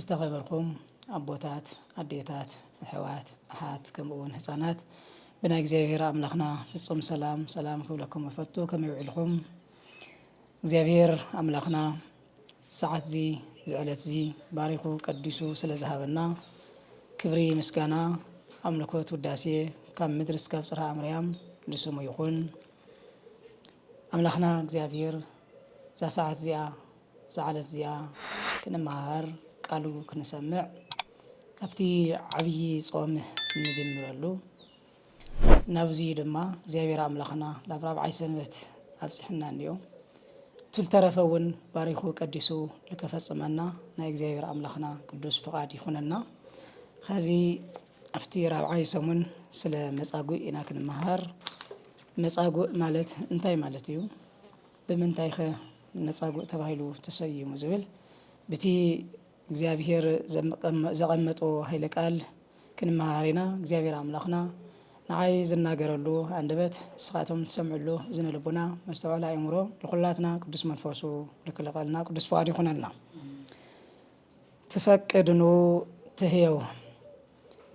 ዝተኸበርኩም ኣቦታት፣ ኣዴታት፣ ኣሕዋት፣ ኣሓት፣ ከምኡ ውን ህጻናት ብናይ እግዚኣብሄር ኣምላኽና ፍጹም ሰላም ሰላም ክብለኩም እፈቱ። ከመይ ውዒልኩም? እግዚኣብሄር ኣምላኽና ሰዓትዚ ዝዕለትዚ ባሪኹ ቀዲሱ ስለ ዝሃበና ክብሪ ምስጋና ኣምልኮት ውዳሴ ካብ ምድሪ እስካብ ጽርሃ ኣምርያም ንስሙ ይኹን። ኣምላኽና እግዚኣብሄር እዛ ሰዓት እዚኣ እዛ ዓለት እዚኣ ክንመሃር ቃሉ ክንሰምዕ ካብቲ ዓብዪ ጾም እንጅምረሉ ናብዚ ድማ እግዚኣብሔር ኣምላኽና ናብ ራብዓይ ሰንበት ኣብጽሕና እንዮ ትልተረፈ እውን ባሪኹ ቀዲሱ ልከፈጽመና ናይ እግዚኣብሔር ኣምላኽና ቅዱስ ፍቓድ ይኹነና ኸዚ ኣብቲ ራብዓይ ሰሙን ስለ መጻጉእ ኢና ክንመሃር መጻጉእ ማለት እንታይ ማለት እዩ ብምንታይከ ነጻጉእ ተባሂሉ ተሰይሙ ዝብል ብቲ እግዚኣብሄር ዘቐመጦ ሃይለ ቃል ክንመሃር ኢና። እግዚኣብሄር ኣምላኽና ንዓይ ዝናገረሉ ኣንደበት ንስኻቶም ትሰምዕሉ እዝነ ልቡና መስተውዐሊ ኣእምሮ ንኹላትና ቅዱስ መንፈሱ ልክልቐልና ቅዱስ ፍቓዱ ይኹነልና። ትፈቅድኑ ትህየው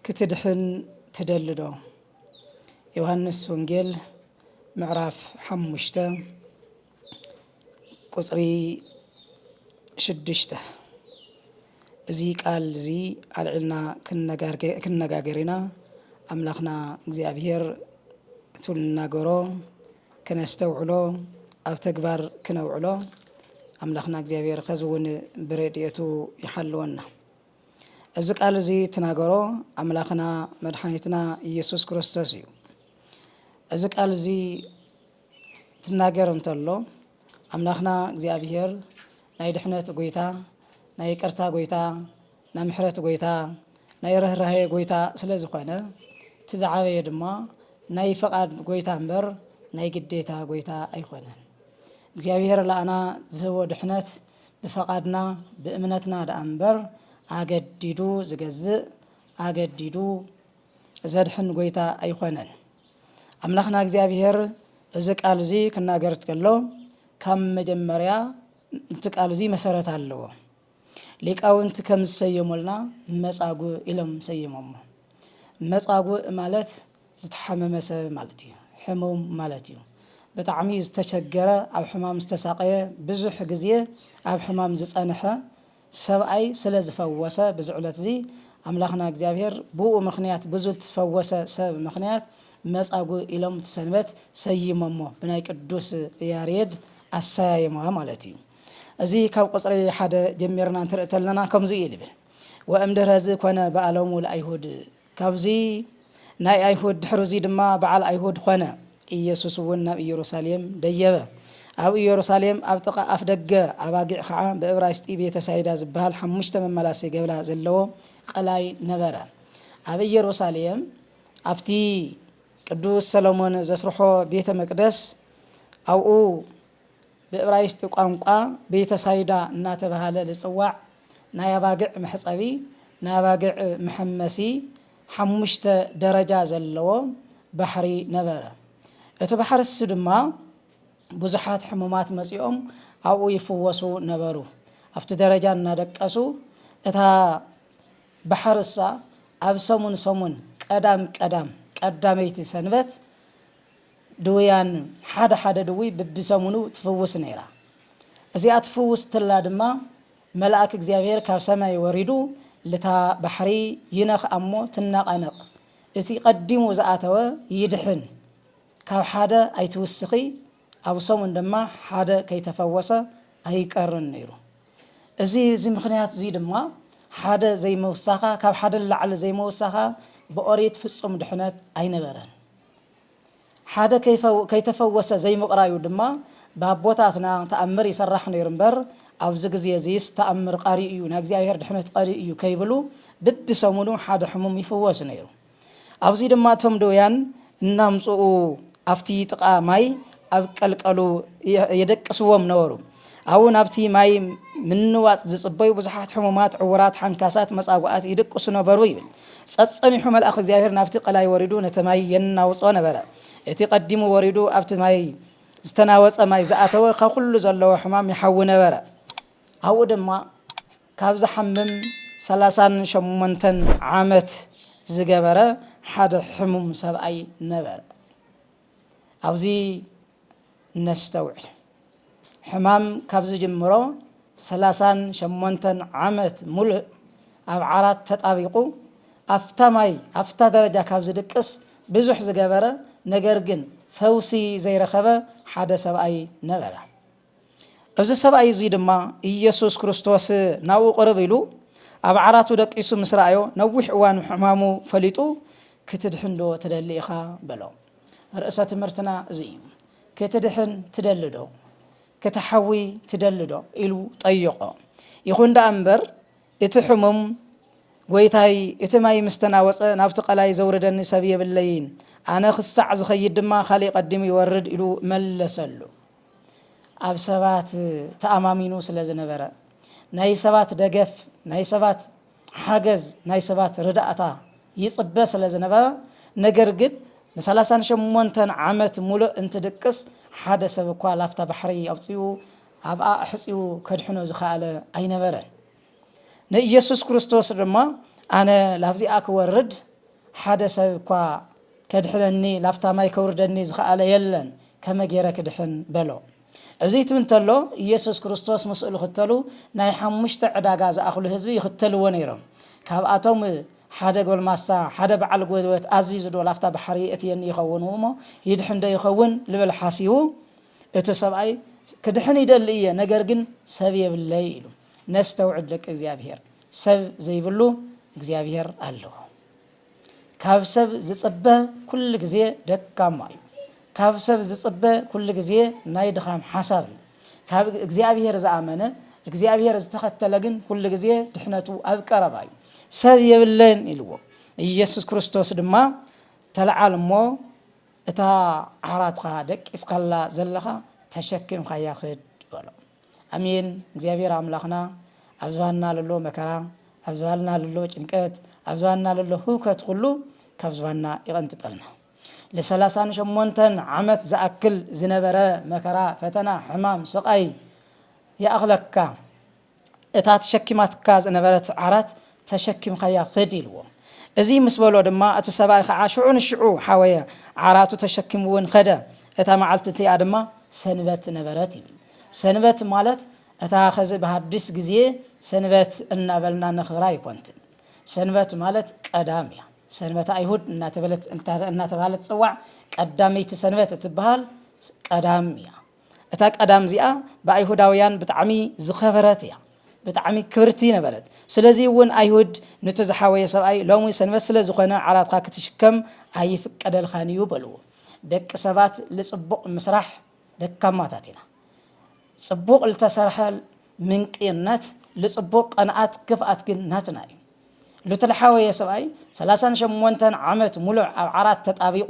ክትድሕን ትደልዶ? ዮሃንስ ወንጌል ምዕራፍ ሓሙሽተ ቁፅሪ ሽዱሽተ እዚ ቃል እዚ ኣልዒልና ክንነጋገር ኢና ኣምላኽና እግዚኣብሔር እቱ ንናገሮ ክነስተውዕሎ ኣብ ተግባር ክነውዕሎ ኣምላኽና እግዚኣብሔር ኸዚ እውን ብረድኤቱ ይሓልወና እዚ ቃል እዚ እትናገሮ ኣምላኽና መድሓኒትና ኢየሱስ ክርስቶስ እዩ። እዚ ቃል እዚ ትናገር እንተሎ ኣምላኽና እግዚኣብሔር ናይ ድሕነት ጎይታ፣ ናይ ይቅርታ ጎይታ፣ ናይ ምሕረት ጎይታ፣ ናይ ርኅራሄ ጎይታ ስለ ዝኾነ እቲ ዝዓበየ ድማ ናይ ፈቓድ ጎይታ እምበር ናይ ግዴታ ጎይታ ኣይኮነን። እግዚኣብሔር ለኣና ዝህቦ ድሕነት ብፈቓድና ብእምነትና ደኣ እምበር ኣገዲዱ ዝገዝእ ኣገዲዱ ዘድሕን ጎይታ ኣይኮነን። ኣምላኽና እግዚኣብሄር እዚ ቃል እዚ ክናገር ከሎ ካብ መጀመርያ እቲ ቃል እዚ መሰረት ኣለዎ። ሊቃውንቲ ከም ዝሰየሙልና መጻጉ ኢሎም ሰይሞሞ። መጻጉእ ማለት ዝተሓመመ ሰብ ማለት እዩ ሕሙም ማለት እዩ ብጣዕሚ ዝተቸገረ ኣብ ሕማም ዝተሳቀየ ብዙሕ ግዜ ኣብ ሕማም ዝጸንሐ ሰብኣይ ስለ ዝፈወሰ ብዚ ዕለት እዚ ኣምላኽና እግዚኣብሔር ብኡ ምኽንያት ብዙ ትፈወሰ ሰብ ምኽንያት መጻጉ ኢሎም እቲ ሰንበት ሰይሞሞ ብናይ ቅዱስ ያሬድ ኣሰያይማ ማለት እዩ እዚ ካብ ቁጽሪ ሓደ ጀሚርና እንትርኢ ተለና ከምዚ እዩ ዝብል ወእምድህረዚ ኮነ በኣሎሙ ለኣይሁድ ካብዚ ናይ ኣይሁድ ድሕርዙይ ድማ በዓል ኣይሁድ ኾነ። ኢየሱስ እውን ናብ ኢየሩሳሌም ደየበ። ኣብ ኢየሩሳሌም ኣብ ጥቓ ኣፍ ደገ ኣባጊዕ ኸዓ ብእብራይስጢ ቤተ ሳይዳ ዝበሃል ሓሙሽተ መመላሲ ገብላ ዘለዎ ቐላይ ነበረ። ኣብ ኢየሩሳሌም ኣብቲ ቅዱስ ሰሎሞን ዘስርሖ ቤተ መቅደስ ኣብኡ ብእብራይስጢ ቋንቋ ቤተሳይዳ እናተብሃለ ልጽዋዕ ናይ ኣባግዕ መሕጸቢ፣ ናይ ኣባግዕ መሐመሲ ሓሙሽተ ደረጃ ዘለዎ ባሕሪ ነበረ። እቲ ባሕርሲ ድማ ብዙሓት ሕሙማት መጺኦም ኣብኡ ይፍወሱ ነበሩ። ኣብቲ ደረጃ እናደቀሱ እታ ባሕርሳ ኣብ ሰሙን ሰሙን ቀዳም ቀዳም ቀዳመይቲ ሰንበት ድውያን ሓደ ሓደ ድውይ ብብሰሙኑ ትፍውስ ነይራ። እዚኣ ትፍውስ ትላ ድማ መልኣክ እግዚኣብሔር ካብ ሰማይ ወሪዱ ልታ ባሕሪ ይነክ ኣሞ ትነቃነቅ እቲ ቀዲሙ ዝኣተወ ይድሕን ካብ ሓደ ኣይትውስኪ ኣብ ሰሙን ድማ ሓደ ከይተፈወሰ ኣይቀርን ነይሩ እዚ እዚ ምክንያት እዙይ ድማ ሓደ ዘይመውሳካ ካብ ሓደ ንላዕሊ ዘይመውሳካ ብኦሪት ፍፁም ድሕነት ኣይነበረን። ሓደ ከይተፈወሰ ዘይምቕራዩ ድማ ብኣቦታትና ተኣምር ይሰራሕ ነይሩ እምበር ኣብዚ ግዜ እዚስ ተኣምር ቐሪ እዩ ናይ እግዚኣብሔር ድሕነት ቐሪ እዩ ከይብሉ ብብሰሙኑ ሓደ ሕሙም ይፍወስ ነይሩ። ኣብዚ ድማ እቶም ድውያን እናምጽኡ ኣብቲ ጥቓ ማይ ኣብ ቀልቀሉ የደቅስዎም ነበሩ። ኣብኡ ናብቲ ማይ ምንዋጽ ዝጽበዩ ብዙሓት ሕሙማት፣ ዕውራት፣ ሓንካሳት፣ መጻጉዓት ይድቅሱ ነበሩ ይብል። ጸጸኒሑ መልኣኽ እግዚኣብሄር ናብቲ ቀላይ ወሪዱ ነቲ ማይ የናውጾ ነበረ። እቲ ቀዲሙ ወሪዱ ኣብቲ ማይ ዝተናወጸ ማይ ዝኣተወ ካብ ኩሉ ዘለዎ ሕማም ይሓዊ ነበረ። ኣብኡ ድማ ካብ ዝሓምም ሰላሳን ሸሞንተን ዓመት ዝገበረ ሓደ ሕሙም ሰብኣይ ነበረ። ኣብዚ ነስተውዕል። ሕማም ካብ ዝጅምሮ ሰላሳን ሸሞንተን ዓመት ሙሉእ ኣብ ዓራት ተጣቢቑ ኣፍታ ማይ ኣፍታ ደረጃ ካብ ዝድቅስ ብዙሕ ዝገበረ ነገር ግን ፈውሲ ዘይረኸበ ሓደ ሰብኣይ ነበረ። እዚ ሰብኣይ እዙይ ድማ ኢየሱስ ክርስቶስ ናብኡ ቅርብ ኢሉ ኣብ ዓራቱ ደቂሱ ምስ ረኣዮ ነዊሕ እዋን ሕማሙ ፈሊጡ ክትድሕንዶ ትደሊ ኢኻ በሎ። ርእሰ ትምህርትና እዙይ እዩ። ክትድሕን ትደልዶ? ክትሓዊ ትደልዶ? ኢሉ ጠይቖ። ይኹን ደኣ እምበር እቲ ሕሙም ጎይታይ እቲ ማይ ምስ ተናወፀ ናብቲ ቀላይ ዘውርደኒ ሰብ የብለይን፣ ኣነ ክሳዕ ዝኸይድ ድማ ካሊእ ቀዲሙ ይወርድ ኢሉ መለሰሉ። ኣብ ሰባት ተኣማሚኑ ስለ ዝነበረ፣ ናይ ሰባት ደገፍ፣ ናይ ሰባት ሓገዝ፣ ናይ ሰባት ርዳእታ ይጽበ ስለ ዝነበረ፣ ነገር ግን ንሰላሳን ሸሞንተን ዓመት ሙሉእ እንትድቅስ ሓደ ሰብ እኳ ላፍታ ባሕሪ ኣውጺኡ ኣብኣ ኣሕጺቡ ከድሕኖ ዝኸኣለ ኣይነበረን። ንኢየሱስ ክርስቶስ ድማ ኣነ ላብዚኣ ክወርድ ሓደ ሰብ እኳ ከድሕነኒ ላብታ ማይ ከውርደኒ ዝኸኣለ የለን ከመ ጌረ ክድሕን በሎ እዙይ ትብ እንተሎ ኢየሱስ ክርስቶስ ምስኡ ልኽተሉ ናይ ሓሙሽተ ዕዳጋ ዝኣኽሉ ህዝቢ ይኽተልዎ ነይሮም ካብኣቶም ሓደ ጎልማሳ ሓደ በዓል ጎዝበት ኣዚዙ ዶ ላፍታ ባሕሪ የእትየኒ ይኸውን እሞ ይድሕን ዶ ይኸውን ልብል ሓሲቡ እቲ ሰብኣይ ክድሕን ይደሊ እየ ነገር ግን ሰብ የብለይ ኢሉ ነስተውዕል ደቂ እግዚኣብሄር ሰብ ዘይብሉ እግዚኣብሄር ኣሎ ካብ ሰብ ዝጽበ ኩሉ ግዜ ደካማ እዩ ካብ ሰብ ዝጽበ ኩሉ ግዜ ናይ ድኻም ሓሳብ እዩ ካብ እግዚኣብሄር ዝኣመነ እግዚኣብሄር ዝተኸተለ ግን ኩሉ ግዜ ድሕነቱ ኣብ ቀረባ እዩ ሰብ የብለን ኢልዎ ኢየሱስ ክርስቶስ ድማ ተለዓል እሞ እታ ዓራትካ ደቂስካላ ዘለካ ተሸኪምካያ ክድ በሎ። ኣሜን እግዚኣብሔር ኣምላክና ኣብ ዝባንና ለሎ መከራ ኣብ ዝባልና ለሎ ጭንቀት ኣብ ዝባንና ለሎ ህውከት ኩሉ ካብ ዝባንና ይቀንጥጠልና ለሰላሳን ሸሞንተን ዓመት ዝኣክል ዝነበረ መከራ ፈተና ሕማም ስቃይ ይኣክለካ እታ ተሸኪማትካ ዝነበረት ዓራት ተሸኪምካያ ኽድ ኢልዎ። እዚ ምስ በሎ ድማ እቲ ሰብኣይ ኸዓ ሽዑ ንሽዑ ሓወየ ዓራቱ ተሸኪምውን ኸደ። እታ መዓልቲ እቲኣ ድማ ሰንበት ነበረት ይብል። ሰንበት ማለት እታ ኸዚ ብሃዲስ ግዜ ሰንበት እናበልና ነኽብራ ኣይኮንትን። ሰንበት ማለት ቀዳም እያ። ሰንበተ ኣይሁድ እናተባህለት ትፅዋዕ። ቀዳመይቲ ሰንበት እትበሃል ቀዳም እያ። እታ ቀዳም እዚኣ ብኣይሁዳውያን ብጣዕሚ ዝኸበረት እያ። ብጣዕሚ ክብርቲ ነበረት። ስለዚ እውን ኣይሁድ ኑቲ ዝሓወየ ሰብኣይ ሎሚ ሰንበት ስለ ዝኾነ ዓራትካ ክትሽከም ኣይፍቀደልኻን እዩ በልዎ። ደቂ ሰባት ልጽቡቕ ምስራሕ ደካማታት ኢና። ጽቡቕ ልተሰርሐ ምንቅይነት፣ ልጽቡቕ ቐንኣት ክፍኣት ግን ናትና እዩ። ሉቲ ልሓወየ ሰብኣይ ሰላሳን ሸሞንተን ዓመት ሙሉዕ ኣብ ዓራት ተጣቢቁ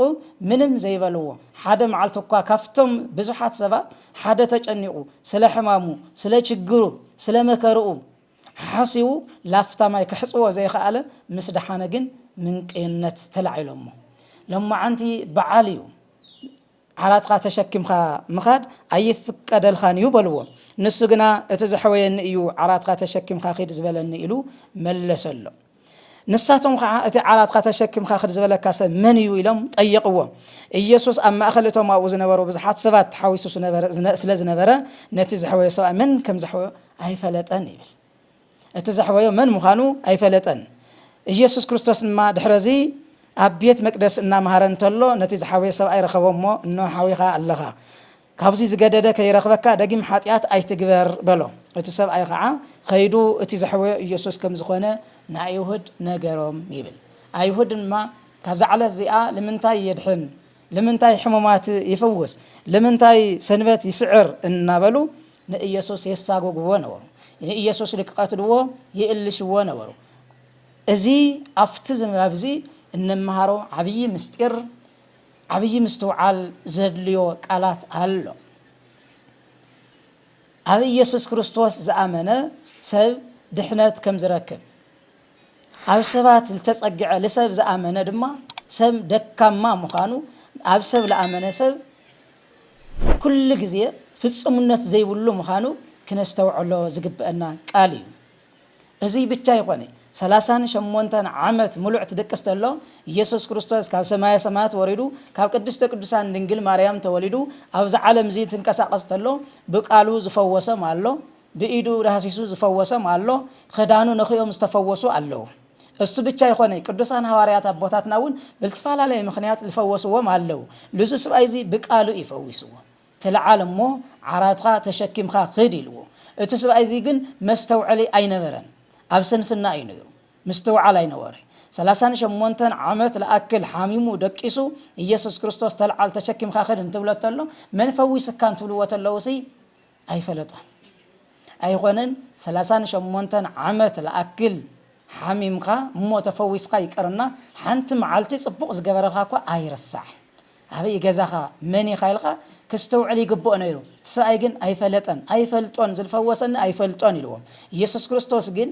ምንም ዘይበልዎ ሓደ መዓልቲ እኳ ካፍቶም ብዙሓት ሰባት ሓደ ተጨኒቁ ስለ ሕማሙ ስለ ችግሩ ስለ መከርኡ ሓሓሲቡ ላፍታ ማይ ከሕፅቦ ዘይኸኣለ ምስ ደሓነ ግን ምንቅይነት ተላዒሎሞ ሎማዓንቲ በዓል እዩ ዓራትካ ተሸኪምካ ምኻድ ኣይፍቀደልኻን እዩ በልዎ። ንሱ ግና እቲ ዘሕወየኒ እዩ ዓራትካ ተሸኪምካ ኪድ ዝበለኒ ኢሉ መለሰሎም። ንሳቶም ኸዓ እቲ ዓራትካ ተሸኪምካ ክድ ዝበለካ ሰብ መን እዩ ኢሎም ጠየቕዎ። ኢየሱስ ኣብ ማእኸል እቶም ኣብኡ ዝነበሩ ብዙሓት ሰባት ተሓዊሱ ስለ ዝነበረ ነቲ ዘሕወዮ ሰብኣይ መን ከም ዘሕወዮ ኣይፈለጠን ይብል። እቲ ዘሕወዮ መን ምዃኑ ኣይፈለጠን። ኢየሱስ ክርስቶስ ድማ ድሕረዚ ኣብ ቤት መቅደስ እናመሃረ እንተሎ ነቲ ዝሓወየ ሰብኣይ ረኸቦ እሞ እነሆ ሓዊኻ ኣለኻ ካብዙይ ዝገደደ ከይረኽበካ ደጊም ሓጢኣት ኣይትግበር በሎ። እቲ ሰብኣይ ኸዓ ኸይዱ እቲ ዘሕወዮ ኢየሱስ ከም ዝኾነ ንኣይሁድ ነገሮም ይብል። ኣይሁድ ድማ ካብዛ ዕለት እዚኣ ልምንታይ የድሕን? ልምንታይ ሕሙማት ይፍውስ? ልምንታይ ሰንበት ይስዕር? እናበሉ ንኢየሱስ የሳጎጉዎ ነበሩ። ንኢየሱስ ልክቐትልዎ ይእልሽዎ ነበሩ። እዚ ኣብቲ ዝንባብዚ እንመሃሮ ዓብዪ ምስጢር ዓብዪ ምስትውዓል ዘድልዮ ቃላት ኣሎ። ኣብ ኢየሱስ ክርስቶስ ዝኣመነ ሰብ ድሕነት ከምዝረክብ፣ ኣብ ሰባት ልተጸግዐ ልሰብ ዝኣመነ ድማ ሰብ ደካማ ምዃኑ ኣብ ሰብ ልኣመነ ሰብ ኩሉ ግዜ ፍጹምነት ዘይብሉ ምዃኑ ክነስተውዕሎ ዝግበእና ቃል እዩ። እዙይ ብቻ ኣይኾነ ሰላሳን ሸሞንተን ዓመት ምሉዕ ትድቅስ ተሎ ኢየሱስ ክርስቶስ ካብ ሰማየ ሰማያት ወሪዱ ካብ ቅድስተ ቅዱሳን ድንግል ማርያም ተወሊዱ ኣብዚ ዓለም እዙይ ትንቀሳቀስ ተሎ ብቃሉ ዝፈወሶም ኣሎ ብኢዱ ዳህሲሱ ዝፈወሶም ኣሎ ኽዳኑ ነኺኦም ዝተፈወሱ ኣለዉ እሱ ብቻ ኣይኾነይ ቅዱሳን ሃዋርያት ኣቦታትና እውን ብልትፈላለየ ምኽንያት ልፈወስዎም ኣለዉ ልዙ ስብኣይ እዚ ብቃሉ እዩ ፈዊስዎ ትልዓል እሞ ዓራትኻ ተሸኪምኻ ኽድ ኢልዎ እቱ ስብኣይ እዚ ግን መስተውዐሊ ኣይነበረን ኣብ ስንፍና እዩ ነይሩ ምስትውዓል ኣይነበሮይ ሰላሳን ሸሞንተን ዓመት ልኣክል ሓሚሙ ደቂሱ ኢየሱስ ክርስቶስ ተልዓል ተሸኪምኻ ኽድ እንትብሎ ተሎ መን ፈዊስካ እንትብልዎ ተለዉ ሲ ኣይፈለጦን ኣይኾነን ሰላሳን ሸሞንተን ዓመት ልኣክል ሓሚምካ እሞ ተፈዊስኻ ይቅርና ሓንቲ መዓልቲ ጽቡቅ ዝገበረልካ እኳ ኣይርሳዕን ኣበይ እዩ ገዛኻ መን ኢኻ ኢልካ ክስተውዕል ይግብኦ ነይሩ እቲ ሰብኣይ ግን ኣይፈለጠን ኣይፈልጦን ዝልፈወሰኒ ኣይፈልጦን ኢልዎም ኢየሱስ ክርስቶስ ግን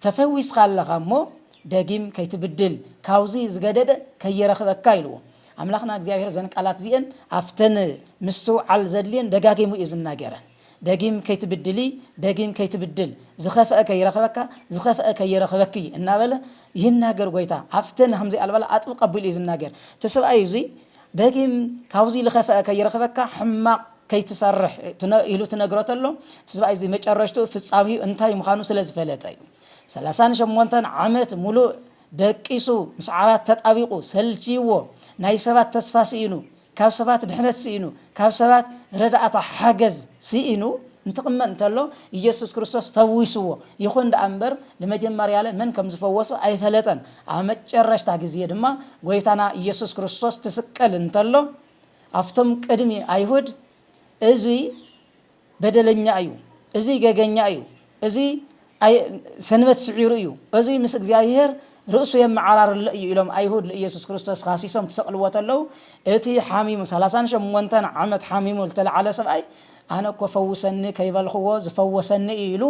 ተፈዊስካ ኣለኻ እሞ ደጊም ከይትብድል ካብዙይ ዝገደደ ከይረኽበካ ኢልዎ። ኣምላኽና እግዚኣብሔር እዘን ቃላት እዚኤን ኣብተን ምስትውዓል ዘድልየን ደጋጊሙ እዩ ዝናገረን። ደጊም ከይትብድሊ ደጊም ከይትብድል ዝኸፍአ ከይረኽበካ ዝኸፍአ ከይረኽበኪ እናበለ ይናገር ጎይታ ኣብተን ከምዚይ ኣልባላ ኣጥብቅ ኣቢሉ እዩ ዝናገር እቲ ሰብኣይ እዙይ ደጊም ካብዙይ ልኸፈኣ ከይረኽበካ ሕማቕ ከይትሰርሕ ኢሉ ትነግሮ ተሎ እቲ ስብኣይ እዚ መጨረሽትኡ ፍጻሜኡ እንታይ ምዃኑ ስለ ዝፈለጠ እዩ። ሰላሳን ሸሞንተን ዓመት ሙሉእ ደቂሱ ምስ ዓራት ተጣቢቑ ሰልችይዎ ናይ ሰባት ተስፋ ስኢኑ ካብ ሰባት ድሕነት ስኢኑ ካብ ሰባት ረዳእታ ሓገዝ ስኢኑ እንትቕመጥ እንተሎ ኢየሱስ ክርስቶስ ፈዊስዎ። ይኹን ደኣ እምበር ልመጀመርያለ መን ከም ዝፈወሶ ኣይፈለጠን። ኣብ መጨረሽታ ግዜ ድማ ጎይታና ኢየሱስ ክርስቶስ ትስቀል እንተሎ ኣብቶም ቅድሚ ኣይሁድ እዙይ በደለኛ እዩ፣ እዙይ ገገኛ እዩ፣ እዙይ ሰንበት ስዒሩ እዩ፣ እዙይ ምስ እግዚኣብሔር ርእሱ የመዓራርሎ እዩ ኢሎም ኣይሁድ ንኢየሱስ ክርስቶስ ካሲሶም ትሰቕልዎ ተለዉ እቲ ሓሚሙ ሰላሳን ሸሞንተን ዓመት ሓሚሙ ዝተለዓለ ሰብኣይ ኣነ እኮ ፈውሰኒ ከይበልኽዎ ዝፈወሰኒ እዩ ኢሉ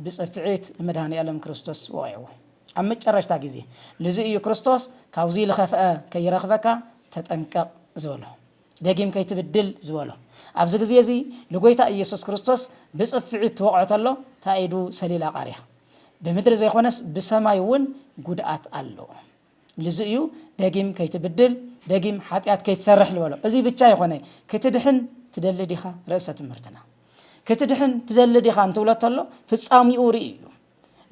ብጽፍዒት ንመድኃኔ ዓለም ክርስቶስ ወቒዕዎ። ኣብ መጨረሽታ ግዜ። ልዙይ እዩ ክርስቶስ ካብዙይ ልኸፍኣ ከይረኽበካ ተጠንቀቕ ዝበሎ። ደጊም ከይትብድል ዝበሎ። ኣብዚ ግዜ እዚ ልጎይታ ኢየሱስ ክርስቶስ ብጽፍዒት ትወቕዖ ተሎ ታኢዱ ሰሊላ ቃርያ። ብምድሪ ዘይኮነስ ብሰማይ እውን ጉድኣት ኣሎ። ልዙይ እዩ ደጊም ከይትብድል፣ ደጊም ሓጢኣት ከይትሰርሕ ልበሎ። እዙይ ብቻ ይኾነ ክትድሕን ትደሊ ዲኻ ርእሰ ትምህርትና። ክትድሕን ትደሊ ዲኻ እንትብሎ ተሎ ፍጻሚኡ ርእዩ እዩ።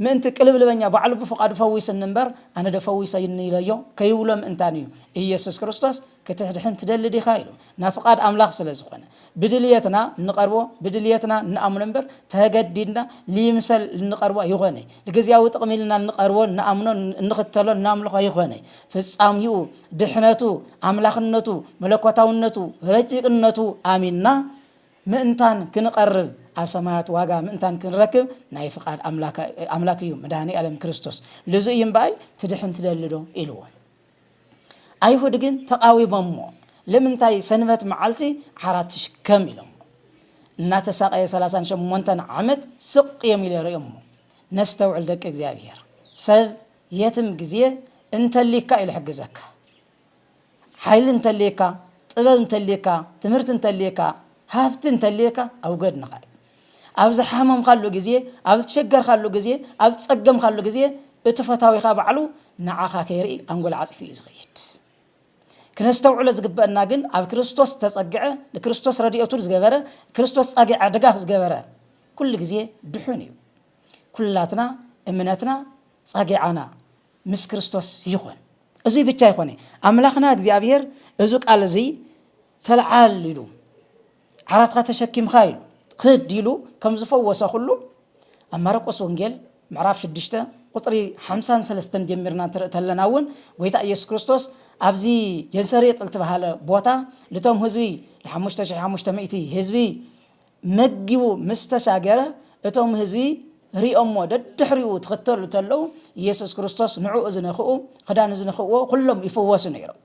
ምእንቲ ቅልብልበኛ ባዕሉ ብፍቓዱ ፈዊስኒ እምበር ኣነ ዶ ፈዊሰኒ ኢለዮ ከይብሎ ምእንታን እዩ ኢየሱስ ክርስቶስ ክትድሕን ትደሊ ዲኻ ኢሉ ናብ ፍቓድ ኣምላኽ ስለ ዝኾነ ብድልየትና እንቐርቦ ብድልየትና እንኣምኖ እምበር ተገዲድና ልይምሰል እንቐርቦ ኣይኾነይ ልግዝያዊ ጥቕሚ ኢልና እንቐርቦ እንኣምኖ እንኽተሎ እናምልኾ ኣይኾነይ ፍጻሚኡ ድሕነቱ ኣምላኽነቱ መለኮታውነቱ ረቂቕነቱ ኣሚንና ምእንታን ክንቐርብ ኣብ ሰማያት ዋጋ ምእንታን ክንረክብ ናይ ፍቓድ ኣምላክ እዩ መድኃኔዓለም ክርስቶስ ልዙይ እዩ እምበኣይ ትድሕን ትደሊ ዶ ኢልዎም ኣይሁድ ግን ተቓዊሞምዎ ልምንታይ ሰንበት መዓልቲ ዓራት ትሽከም ኢሎሞ እናተሳቐየ ሰላሳን ሸሞንተን ዓመት ስቕ እዮም ኢለ ርእዮሞ ነስተውዕል ደቂ እግዚኣብሔር ሰብ የትም ግዜ እንተሊካ እዩ ልሕግዘካ ሓይሊ እንተልየካ፣ ጥበብ እንተልየካ፣ ትምህርቲ እንተልየካ፣ ሃፍቲ እንተልየካ ኣብ ጎድንኻ እዩ። ኣብ ዝሓመምካሉ ግዜ፣ ኣብ ዝሸገርካሉ ግዜ፣ ኣብ ዝጸገምካሉ ግዜ እቲ ፈታዊኻ ባዕሉ ንዓኻ ከይርኢ ኣንጎል ዓጺፉ እዩ ዝኸይድ። ክነስተውዕሎ ዝግበአና ግን ኣብ ክርስቶስ ዝተጸግዐ፣ ንክርስቶስ ረድኤቱ ዝገበረ፣ ክርስቶስ ጸግዐ ድጋፍ ዝገበረ ኩሉ ግዜ ድሑን እዩ። ኩላትና እምነትና ጸግዓና ምስ ክርስቶስ ይኹን። እዙይ ብቻ ኣይኮነ ኣምላኽና እግዚኣብሔር እዙ ቃል እዙይ ተልዓል ኢሉ ዓራትካ ተሸኪምካ ኢሉ ክድ ኢሉ ከም ዝፈወሰ ኩሉ ኣብ ማርቆስ ወንጌል ምዕራፍ 6 ቁፅሪ 53 ጀሚርና እንትርኢ ተለና እውን ጎይታ ኢየሱስ ክርስቶስ ኣብዚ የንሰሬጥ ዝተባሃለ ቦታ ልቶም ህዝቢ ለ5 ህዝቢ መጊቡ ምስ ተሳገረ፣ እቶም ህዝቢ ርእዮምዎ ደድሕሪኡ ትኽተሉ ተለዉ፣ ኢየሱስ ክርስቶስ ንዕኡ ዝነኽኡ፣ ክዳኑ ዝነኽእዎ ኩሎም ይፍወሱ ነይሮም።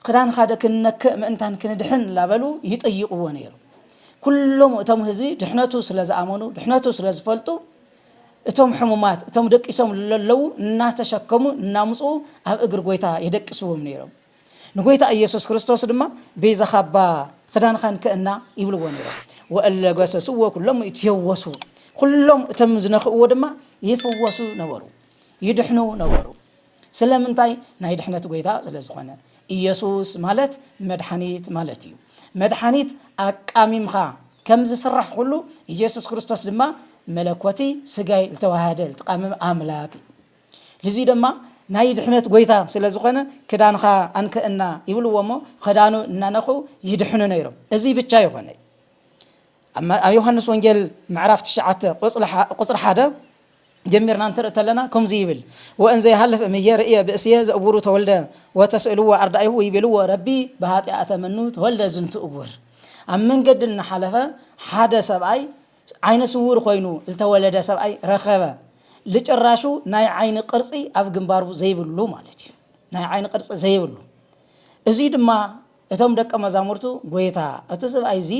ክዳንኻዶ ክንነክእ ምእንታን ክንድሕን እላበሉ ይጥይቕዎ ነይሩ። ኩሎም እቶም ህዝቢ ድሕነቱ ስለ ዝኣመኑ፣ ድሕነቱ ስለ ዝፈልጡ፣ እቶም ሕሙማት፣ እቶም ደቂሶም ለለዉ እናተሸከሙ እናምጽኡ ኣብ እግሪ ጎይታ የደቅስዎም ነይሮም። ንጎይታ ኢየሱስ ክርስቶስ ድማ ቤዛ ካባ ኽዳንኻን ክእና ይብልዎ ነይሮም ወእለ ገሰስዎ ኩሎም ይትፌወሱ ኩሎም እቶም ዝነኽእዎ ድማ ይፍወሱ ነበሩ ይድሕኑ ነበሩ ስለምንታይ ናይ ድሕነት ጎይታ ስለ ዝኾነ ኢየሱስ ማለት መድሓኒት ማለት እዩ መድሓኒት ኣቃሚምኻ ከም ዝስራሕ ኩሉ ኢየሱስ ክርስቶስ ድማ መለኮቲ ስጋይ ዝተዋሃደ ዝተቃመመ ኣምላክ ልዙይ ደማ ናይ ድሕነት ጎይታ ስለ ዝኾነ ክዳንኻ ኣንከእና ይብልዎ እሞ ኸዳኑ እናነኸው ይድሕኑ ነይሮም እዙይ ብቻ ይኾነይ ኣብ ዮሃንስ ወንጌል ምዕራፍ ትሽዓተ ቁፅሪ ሓደ ጀሚርና እንትርኢ ተለና ከምዚ ይብል ወእን ዘይሃልፍ እምየ ርእየ ብእስየ ዘእቡሩ ተወልደ ወተስእልዎ ኣርዳኢሁ ይብልዎ ረቢ ብሃጢኣተ መኑ ተወልደ ዝንቱ እቡር ኣብ መንገዲ እናሓለፈ ሓደ ሰብኣይ ዓይነ ስዉር ኮይኑ ልተወለደ ሰብኣይ ረኸበ። ልጭራሹ ናይ ዓይኒ ቅርጺ ኣብ ግንባሩ ዘይብሉ ማለት እዩ። ናይ ዓይኒ ቅርጺ ዘይብሉ። እዙይ ድማ እቶም ደቀ መዛሙርቱ ጎይታ እቲ ሰብኣይ እዚ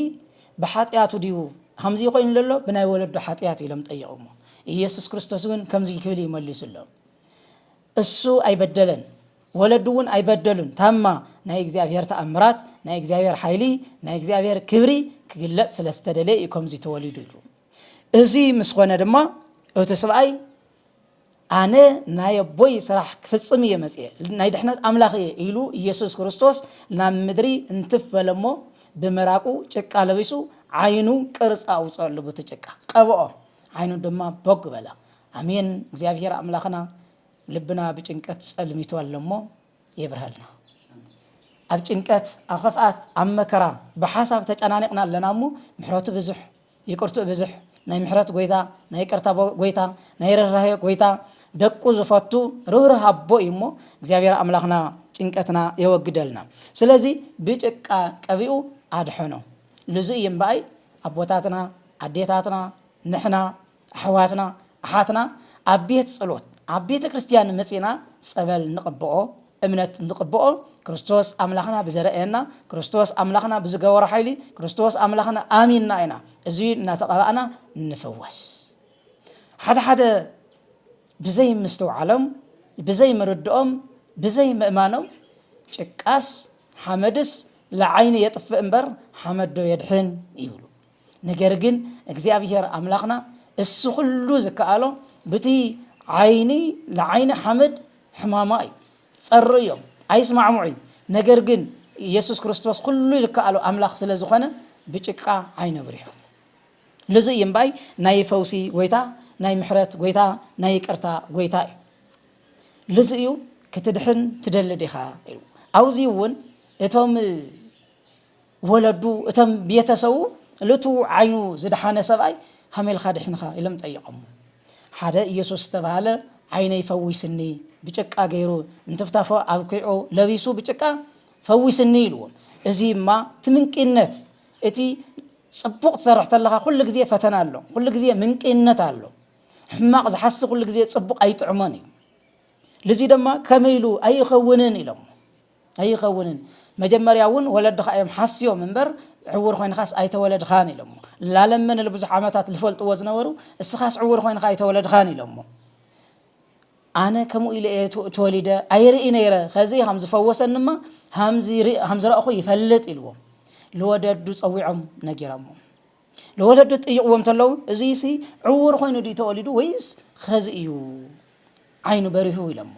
ብሓጢኣቱ ድዩ ሃምዚ ኮይኑ ዘሎ ብናይ ወለዱ ሓጢኣት ኢሎም ጠየቑሞ። ኢየሱስ ክርስቶስ እውን ከምዚ ክብል እዩ መሊሱሎም። እሱ ኣይበደለን ወለዱ እውን ኣይበደሉን ታማ ናይ እግዚኣብሔር ተኣምራት ናይ እግዚኣብሔር ሓይሊ ናይ እግዚኣብሔር ክብሪ ክግለጽ ስለ ዝተደለየ እዩ ከምዚ ተወሊዱ ኢሉ እዚ ምስ ኮነ ድማ እቲ ስብኣይ ኣነ ናይ ኣቦይ ስራሕ ክፍጽም እየ መጽየ ናይ ድሕነት ኣምላኽ እየ ኢሉ ኢየሱስ ክርስቶስ ናብ ምድሪ እንትፍ በለ እሞ ብምራቁ ጭቃ ለቢሱ ዓይኑ ቅርፂ ኣውፅኦሉ ብቲ ጭቃ ቀብኦ ዓይኑ ድማ ቦግ በለ ኣሜን እግዚኣብሔር ኣምላክና ልብና ብጭንቀት ጸልሚቱ ኣሎ እሞ የብርሃልና ኣብ ጭንቀት ኣብ ከፍኣት ኣብ መከራ ብሓሳብ ተጨናኒቕና ኣለና እሞ ምሕረቱ ብዙሕ ይቅርትኡ ብዙሕ ናይ ምሕረት ጎይታ ናይ ይቅርታ ጎይታ ናይ ርህራሄ ጎይታ ደቁ ዝፈቱ ርህርህ ኣቦ እዩ እሞ እግዚኣብሔር ኣምላኽና ጭንቀትና የወግደልና ስለዚ ብጭቃ ቀቢኡ ኣድሐኖ ልዙ እዩ እምበኣይ ኣቦታትና ኣዴታትና ንሕና ኣሕዋትና ኣሓትና ኣብ ቤት ጸሎት ኣብ ቤተ ክርስቲያን መጺና ጸበል ንቕብኦ እምነት ንቕብኦ ክርስቶስ ኣምላኽና ብዘረእየና ክርስቶስ ኣምላኽና ብዝገበሮ ሓይሊ ክርስቶስ ኣምላኽና ኣሚንና ኢና እዚ እናተቐባእና ንፍወስ ሓደ ሓደ ብዘይ ምስትውዓሎም ብዘይ ምርድኦም ብዘይ ምእማኖም ጭቃስ ሓመድስ ለዓይኒ የጥፍእ እምበር ሓመዶ የድሕን ይብሉ ነገር ግን እግዚኣብሄር ኣምላኽና እሱ ኹሉ ዝከኣሎ ብቲ ዓይኒ ለዓይኒ ሓመድ ሕማማ እዩ ጸሩ እዮም ኣይስማዕሙዕ እዩ ነገር ግን ኢየሱስ ክርስቶስ ኩሉ ይልከኣሉ ኣምላኽ ስለ ዝኾነ ብጭቃ ዓይነ ብሪሑ ልዙ እዩ እምባይ ናይ ፈውሲ ጎይታ ናይ ምሕረት ጎይታ ናይ ይቅርታ ጎይታ እዩ ልዙ እዩ ክትድሕን ትደሊ ዲኻ ኢሉ ኣብዚ እውን እቶም ወለዱ እተም ቤተሰቡ ልቱ ዓይኑ ዝደሓነ ሰብኣይ ሃሜልካ ድሒንኻ ኢሎም ጠይቐሞ ሓደ ኢየሱስ ዝተባህለ ዓይነይ ፈዊስኒ ብጭቃ ገይሩ እንትፍታፎ ኣብኪዑ ለቢሱ ብጭቃ ፈዊስኒ ኢልዎ እዚ እማ ትምንቅነት እቲ ጽቡቕ ትሰርሕ ተለኻ ኩሉ ግዜ ፈተና ኣሎ ኩሉ ግዜ ምንቅነት ኣሎ ሕማቕ ዝሓስብ ኩሉ ግዜ ጽቡቕ ኣይጥዕሞን እዩ ልዚ ድማ ከመይ ኢሉ ኣይኸውንን ኢሎም ኣይኸውንን መጀመርያ እውን ወለድኻ እዮም ሓስዮም እምበር ዕውር ኾይንኻስ ኣይተወለድኻን ኢሎሞ ላለመ ንልብዙሕ ዓመታት ልፈልጥዎ ዝነበሩ እስኻስ ዕውር ኾይንኻ ኣይተወለድኻን ኢሎሞ ኣነ ከምኡ ኢለ እየ ተወሊደ ኣይርኢ ነይረ ከዚ ሃም ዝፈወሰንማ ሃም ዝረእኹ ይፈልጥ ኢልዎም ልወደዱ ፀዊዖም ነጊሮሞ ንወለዱ ትጥይቕዎ እንተለዉ እዙይሲ ዕዉር ኮይኑ ድዩ ተወሊዱ ወይስ ኸዚ እዩ ዓይኑ በሪሁ ኢሎሞ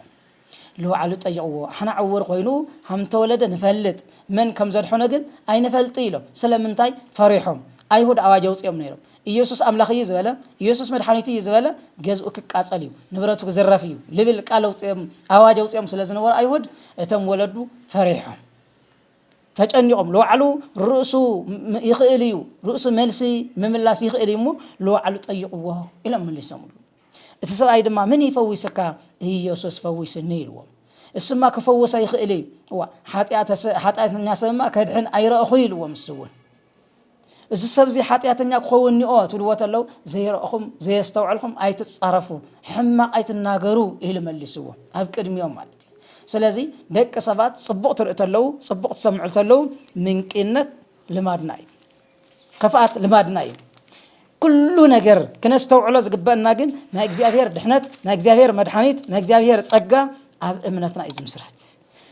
ንባዕሉ ጠይቕዎ ኣሕና ዕዉር ኮይኑ ሃምተወለደ ንፈልጥ መን ከም ዘድሐኖ ግን ኣይንፈልጥ ኢሎም ስለምንታይ ፈሪሖም ኣይሁድ ኣዋጅ ኣውፂኦም ነይሮም ኢየሱስ ኣምላኽ እዩ ዝበለ ኢየሱስ መድሓኒቱ እዩ ዝበለ ገዝኡ ክቃፀል እዩ ንብረቱ ክዝረፍ እዩ ልብል ቃል ኣውፂኦም ኣዋጅ ኣውፂኦም ስለ ዝነበሩ ኣይሁድ እቶም ወለዱ ፈሪሖም ተጨኒቆም ልባዕሉ ርእሱ ይኽእል እዩ ርእሱ መልሲ ምምላስ ይኽእል እዩ እሞ ልባዕሉ ጠይቕዎ ኢሎም መሊሶምሉ እቲ ሰብኣይ ድማ ምን ይፈዊስካ ኢየሱስ ፈዊስኒ ኢልዎ እሱማ ክፈውስ ኣይኽእል እዩ ሓጢኣተኛ ሰብማ ከድሕን ኣይረእኹ ኢልዎ ምስ እውን እዚ ሰብዚ ሓጢኣተኛ ክኸውን እኒኦ ትብልዎ ተለው ዘይረእኹም ዘየስተውዐልኹም ኣይትጻረፉ ሕማቕ ኣይትናገሩ ኢሉ መሊስዎ ኣብ ቅድሚኦም ማለት እዩ ስለዚ ደቂ ሰባት ጽቡቕ ትርኢ ተለው ጽቡቕ ትሰምዑ ተለው ምንቂነት ልማድና እዩ ከፍኣት ልማድና እዩ ኩሉ ነገር ክነስተውዕሎ ዝግበአና ግን ናይ እግዚኣብሔር ድሕነት ናይ እግዚኣብሔር መድሓኒት ናይ እግዚኣብሔር ጸጋ ኣብ እምነትና እዩ ዝምስረት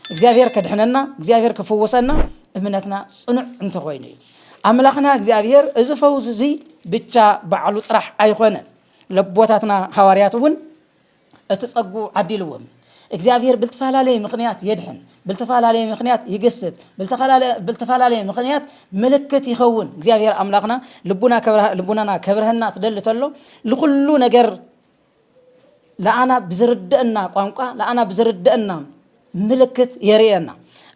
እግዚኣብሄር ከድሕነና እግዚኣብሄር ክፍውሰና እምነትና ጽኑዕ እንተኾይኑ እዩ። ኣምላኽና እግዚኣብሄር እዚ ፈውስ እዚ ብቻ ባዕሉ ጥራሕ ኣይኾነን። ለቦታትና ሃዋርያት እውን እቲ ጸጉ ዓዲልዎም እዩ። እግዚኣብሄር ብልተፈላለየ ምኽንያት የድሕን፣ ብልተፈላለየ ምኽንያት ይግስጽ፣ ብልተፈላለየ ምኽንያት ምልክት ይኸውን። እግዚኣብሄር ኣምላኽና ልቡናና ከብርሀና ትደሊ ተሎ ንኹሉ ነገር ለኣና ብዝርደአና ቋንቋ ለኣና ብዝርደአና ምልክት የርእየና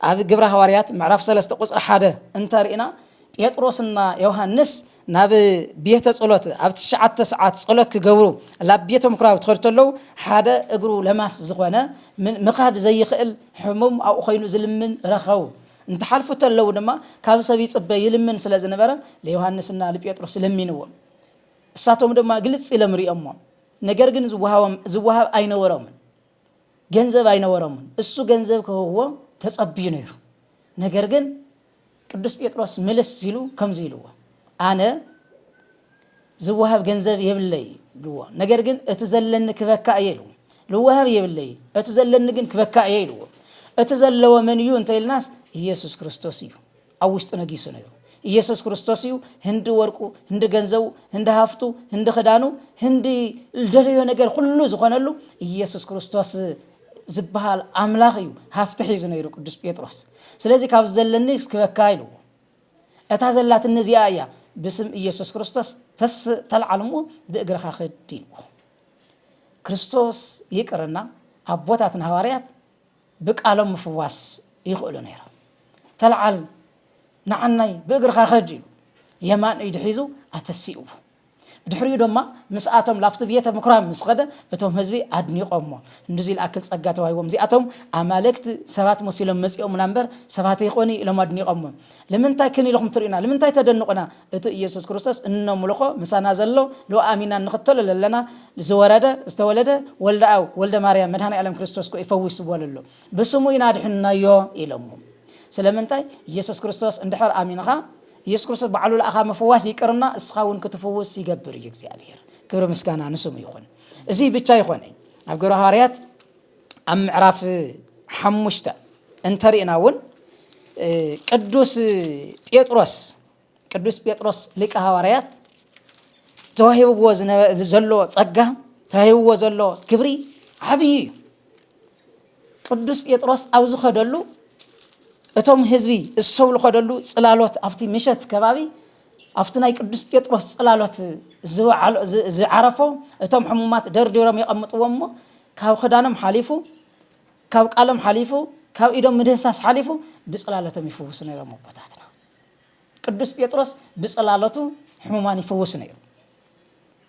ኣብ ግብረ ሃዋርያት ምዕራፍ 3 ቁፅሪ ሓደ እንተርእና ጴጥሮስና ዮሃንስ ናብ ቤተ ጸሎት ኣብ ትሽዓተ ሰዓት ጸሎት ክገብሩ ናብ ቤተ ምኩራብ ትኸዱ ተለው ሓደ እግሩ ለማስ ዝኾነ ምኻድ ዘይኽእል ሕሙም ኣብኡ ኮይኑ ዝልምን ረኸቡ እንተሓልፉ ተለው ድማ ካብ ሰብ ይጽበ ይልምን ስለ ዝነበረ ንዮሃንስና ንጴጥሮስ ለሚንዎም እሳቶም ድማ ግልጽ ኢሎም ሪኦሞም ነገር ግን ዝወሃቦም ዝወሃብ ኣይነበሮምን ገንዘብ ኣይነበሮምን እሱ ገንዘብ ክህብዎም ተጸብዩ ነይሩ ነገር ግን ቅዱስ ጴጥሮስ ምልስ ሲሉ ከምዚ ኢልዎ ኣነ ዝወሃብ ገንዘብ የብለይ ልዎ ነገር ግን እቲ ዘለኒ ክበካ እየ ኢልዎ ልወሃብ የብለይ እቲ ዘለኒ ግን ክበካ እየ ኢልዎ እቲ ዘለዎ መን እዩ እንተ ኢልናስ ኢየሱስ ክርስቶስ እዩ ኣብ ውሽጡ ነጊሱ ነይሩ። ኢየሱስ ክርስቶስ እዩ ህንዲ ወርቁ፣ ህንዲ ገንዘቡ፣ ህንዲ ሃፍቱ፣ ህንዲ ክዳኑ፣ ህንዲ ዝደለዮ ነገር ኩሉ ዝኾነሉ ኢየሱስ ክርስቶስ ዝበሃል ኣምላኽ እዩ ሃፍቲ ሒዙ ነይሩ ቅዱስ ጴጥሮስ። ስለዚ ካብ ዘለኒ ክበካ ኢልዎ እታ ዘላትኒ እዚኣ እያ ብስም ኢየሱስ ክርስቶስ ተስ ተልዓል እሞ ብእግርኻ ክድ ኢልዎ። ክርስቶስ ይቅርና ኣቦታትና ሃዋርያት ብቃሎም ምፍዋስ ይኽእሉ ነይሮም። ተልዓል ንዓናይ ብእግርኻ ከድ ኢሉ የማን ኢዱ ሒዙ ኣተሲኡዎ። ብድሕሪኡ ደማ ምስኣቶም ላፍቲ ብየተ ምኩራብ ምስ ኸደ እቶም ህዝቢ ኣድኒቆሞ እንድዙይ ልኣክል ጸጋ ተዋሂቦም እዚኣቶም ኣማልክት ሰባት መሲሎም መጺኦሙና እምበር ሰባት ኣይኮኑይ ኢሎም ኣድኒቆሞ። ልምንታይ ክን ኢልኹም ትርእዩና ልምንታይ ተደንቑና እቱ እየሱስ ክርስቶስ እነምልኾ ምሳና ዘሎ ልኡ ኣሚና እንኽተሎ ለለና ዝወረደ ዝተወለደ ወልደ ኣው ወልደ ማርያም መድሃኒ ኣለም ክርስቶስ ኮ ይፈዊስዎ ለሎ ብስሙ ኢና ኣድሕንናዮ ኢሎምም ስለምንታይ እየሱስ ክርስቶስ እንድሕር ኣሚንኻ ኢየሱስ ክርስቶስ ባዕሉ ለኣኻ ምፍዋስ ይቅርና እስኻ እውን ክትፍውስ ይገብር እዩ እግዚኣብሔር ክብሪ ምስጋና ንስሙ ይኹን እዙይ ብቻ ይኾነ ኣብ ግብረ ሃዋርያት ኣብ ምዕራፍ ሓሙሽተ እንተሪእና እውን ቅዱስ ጴጥሮስ ቅዱስ ጴጥሮስ ሊቀ ሃዋርያት ተዋሂብዎ ዘሎ ጸጋ ተዋሂብዎ ዘሎ ክብሪ ዓብዪ እዩ። ቅዱስ ጴጥሮስ ኣብ ዝኸደሉ እቶም ህዝቢ እሰው ዝኸደሉ ጽላሎት ኣብቲ ምሸት ከባቢ ኣብቲ ናይ ቅዱስ ጴጥሮስ ጽላሎት ዝዓሎ ዝ ዝዓረፎ እቶም ሕሙማት ደርዲሮም የቐምጥዎም እሞ ካብ ክዳኖም ሓሊፉ ካብ ቃሎም ሓሊፉ ካብ ኢዶም ምድህሳስ ሓሊፉ ብጽላሎቶም ይፍውሱ ነይሮም ኣቦታትና። ቅዱስ ጴጥሮስ ብጽላሎቱ ሕሙማን ይፍውስ ነይሩ።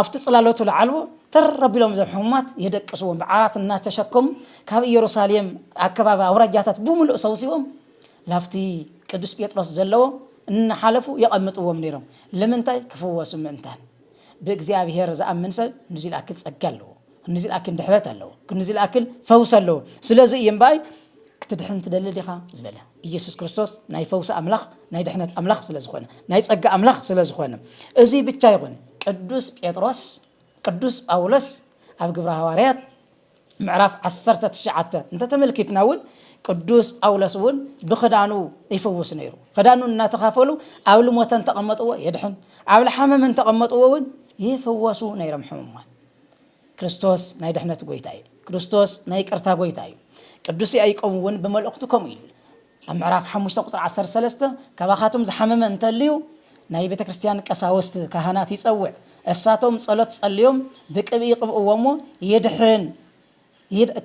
ኣብቲ ጽላሎቱ ልዓልዎ ተር ኣቢሎም እዞም ሕሙማት የደቅስዎም ብዓራት እናተሸከሙ ካብ ኢየሩሳሌም ኣከባቢ ኣውራጃታት ብምሉእ ሰውሲዎም ላፍቲ ቅዱስ ጴጥሮስ ዘለዎ እናሓለፉ የቐምጥዎም ነይሮም ልምንታይ ክፍወሱ ምእንታን ብእግዚኣብሔር ዝኣምን ሰብ ንዚልኣክል ጸጋ ኣለዎ ክንዲ ዝልኣክል ድሕረት ኣለዎ፣ ክንዲ ዝልኣክል ፈውሲ ኣለዎ። ስለዚ እዩ እምበኣይ ክትድሕን ትደሊ ዲኻ ዝበለ ኢየሱስ ክርስቶስ ናይ ፈውሲ ኣምላኽ ናይ ድሕነት ኣምላኽ ስለ ዝኾነ ናይ ጸጋ ኣምላኽ ስለ ዝኾነ እዚ ብቻ ይኹን ቅዱስ ጴጥሮስ ቅዱስ ጳውሎስ ኣብ ግብረ ሃዋርያት ምዕራፍ 19 እንተተመልኪትና እውን ቅዱስ ጳውሎስ እውን ብክዳኑ ይፈውስ ነይሩ ክዳኑ እናተኻፈሉ ኣብ ልሞተ እንተቐመጥዎ የድሕን ኣብ ልሓመም እንተቐመጥዎ እውን ይፍወሱ ነይሮም ሕሙማን ክርስቶስ ናይ ድሕነት ጎይታ እዩ። ክርስቶስ ናይ ይቅርታ ጎይታ እዩ። ቅዱስ ያዕቆብ እውን ብመልእኽቱ ከምኡ ኢሉ ኣብ ምዕራፍ 5 ቁፅሪ 13 ካባኻቶም ዝሓመመ እንተልዩ ናይ ቤተ ክርስቲያን ቀሳውስት ካህናት ይጸውዕ፣ እሳቶም ጸሎት ጸልዮም ብቅብኢ ይቅብእዎ እሞ ይድሕን።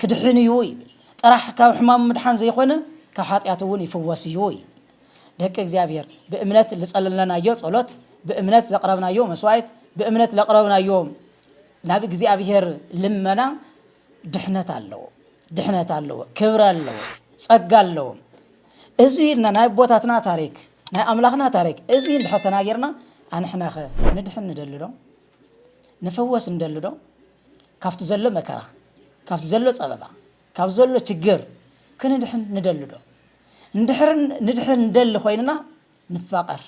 ክድሕን እዩ ይብል። ጥራሕ ካብ ሕማሙ ምድሓን ዘይኮነ ካብ ሓጢኣቱ እውን ይፍወስ እዩ ይብል። ደቂ እግዚኣብሔር ብእምነት ልጸለለናዮ ጸሎት፣ ብእምነት ዘቕረብናዮ መስዋዕት፣ ብእምነት ለቕረብናዮ ናብ እግዚኣብሔር ልመና ድሕነት ኣለዎ፣ ድሕነት ኣለዎ፣ ክብረ ኣለዎ፣ ጸጋ ኣለዎ። እዚ ኢልና ናይ ኣቦታትና ታሪክ ናይ ኣምላኽና ታሪክ እዚ እንድሕር ተናጊርና ኣንሕናኸ ንድሕን ንደልዶ? ንፍወስ ንደሊ ዶ ካብቲ ዘሎ መከራ ካብቲ ዘሎ ጸበባ ካብ ዘሎ ችግር ክንድሕን ንደሊ ዶ እንድሕር ንድሕን ንደሊ ኮይንና ንፋቀር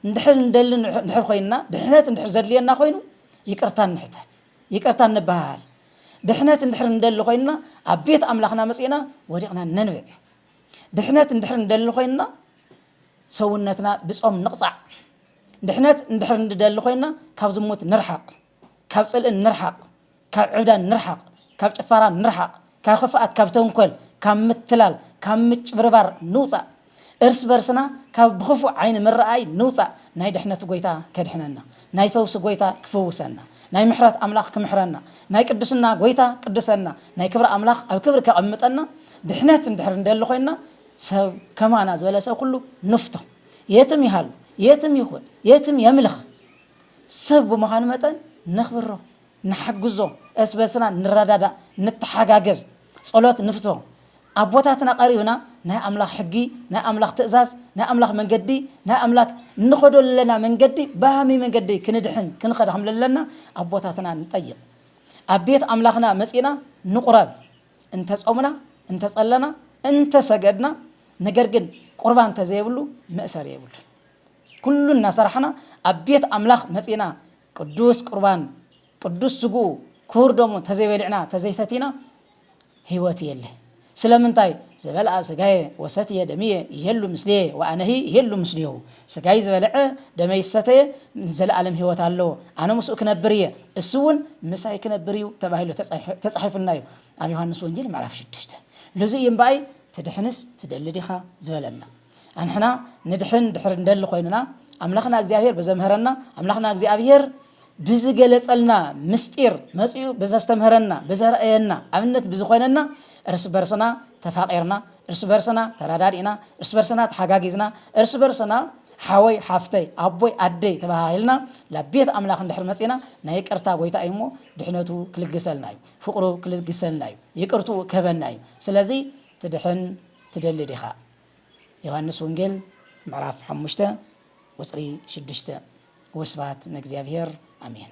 እንድሕር ንደሊ እንድሕር ኮይንና ድሕነት እንድሕር ዘድልየና ኮይኑ ይቅርታ ንሕተት ይቅርታ ንበሃሃል ድሕነት እንድሕር ንደሊ ኮይንና ኣብ ቤት ኣምላኽና መጺእና ወዲቕና ነንብዕ ድሕነት እንድሕር ንደሊ ኮይንና ሰውነትና ብጾም ንቕጻዕ ድሕነት እንድሕር ንደሊ ኮይንና ካብ ዝሙት ንርሓቕ፣ ካብ ጽልኢ ንርሓቕ፣ ካብ ዕብዳን ንርሓቕ፣ ካብ ጭፋራ ንርሓቕ፣ ካብ ክፍኣት፣ ካብ ተንኮል፣ ካብ ምትላል፣ ካብ ምጭብርባር ንውጻእ። እርስ በርስና ካብ ብኽፉእ ዓይኒ ምርኣይ ንውጻእ። ናይ ድሕነት ጎይታ ከድሕነና፣ ናይ ፈውሲ ጎይታ ክፍውሰና፣ ናይ ምሕረት ኣምላኽ ክምሕረና፣ ናይ ቅዱስና ጎይታ ቅዱሰና፣ ናይ ክብሪ ኣምላኽ ኣብ ክብሪ ከቐምጠና ድሕነት እንድሕር ንደሊ ኮይንና ሰብ ከማና ዝበለ ሰብ ኩሉ ንፍቶ። የትም ይሃሉ የትም ይኹን የትም የምልኽ ሰብ ብምዃኑ መጠን ነኽብሮ፣ ንሓግዞ፣ እርስ በርስና ንረዳዳእ፣ ንተሓጋገዝ፣ ጸሎት ንፍቶ፣ ኣቦታትና ቀሪብና ናይ ኣምላኽ ሕጊ፣ ናይ ኣምላኽ ትእዛዝ፣ ናይ ኣምላኽ መንገዲ፣ ናይ ኣምላክ እንኸዶ ለለና መንገዲ ብሃመይ መንገዲ ክንድሕን ክንኸድ ከምለለና ኣቦታትና ንጠይቕ። ኣብ ቤት ኣምላኽና መጺእና ንቑረብ፣ እንተ ጾምና እንተ ጸለና እንተ ሰገድና ነገር ግን ቁርባን ተዘየብሉ መእሰሪ የብሉን። ኩሉ እናሰራሕና ኣብ ቤት ኣምላኽ መጺእና ቅዱስ ቁርባን ቅዱስ ስግኡ ክቡር ደሙ ተዘይበሊዕና ተዘይሰቲና ህይወት የለ። ስለምንታይ ዝበልኣ ስጋየ ወሰትየ ደምየ ይሄሉ ምስሌየ ወኣነሂ ይሄሉ ምስሌሁ ሥጋይ ዝበልዐ ደመይ ዝሰተየ ንዘለዓለም ሕይወት ኣለዎ፣ ኣነ ምስኡ ክነብር እየ፣ እሱውን ምሳይ ክነብር እዩ ተባሂሉ ተጻሒፉልና እዩ ኣብ ዮሓንስ ወንጌል ምዕራፍ ሽዱሽተ። ልዙይ እዩ እምበኣይ ትድኅንስ ትደሊ ዲኻ ዝበለና። ኣንሕና ንድኅን ድሕሪ ንደሊ ኮይንና ኣምላኽና እግዚኣብሔር ብዘምሀረና ኣምላኽና እግዚኣብሔር፣ ብዝገለጸልና ምስጢር መጺኡ ብዘስተምህረና ብዘርእየና ኣብነት ብዝኾነና እርስ በርስና ተፋቒርና እርስ በርስና ተረዳዲእና እርስ በርስና ተሓጋጊዝና እርስ በርስና ሓወይ ሓፍተይ ኣቦይ ኣደይ ተባሃሂልና ናብ ቤት ኣምላኽ እንድሕር መጺና ናይ ይቅርታ ጎይታ እዩ እሞ ድሕነቱ ክልግሰልና እዩ ፍቕሩ ክልግሰልና እዩ ይቅርትኡ ክህበና እዩ ስለዚ ትድሕን ትደሊ ዲኻ ዮሃንስ ወንጌል ምዕራፍ ሓሙሽተ ቁፅሪ ሽዱሽተ ወስብሃት ንእግዚኣብሔር ኣሜን።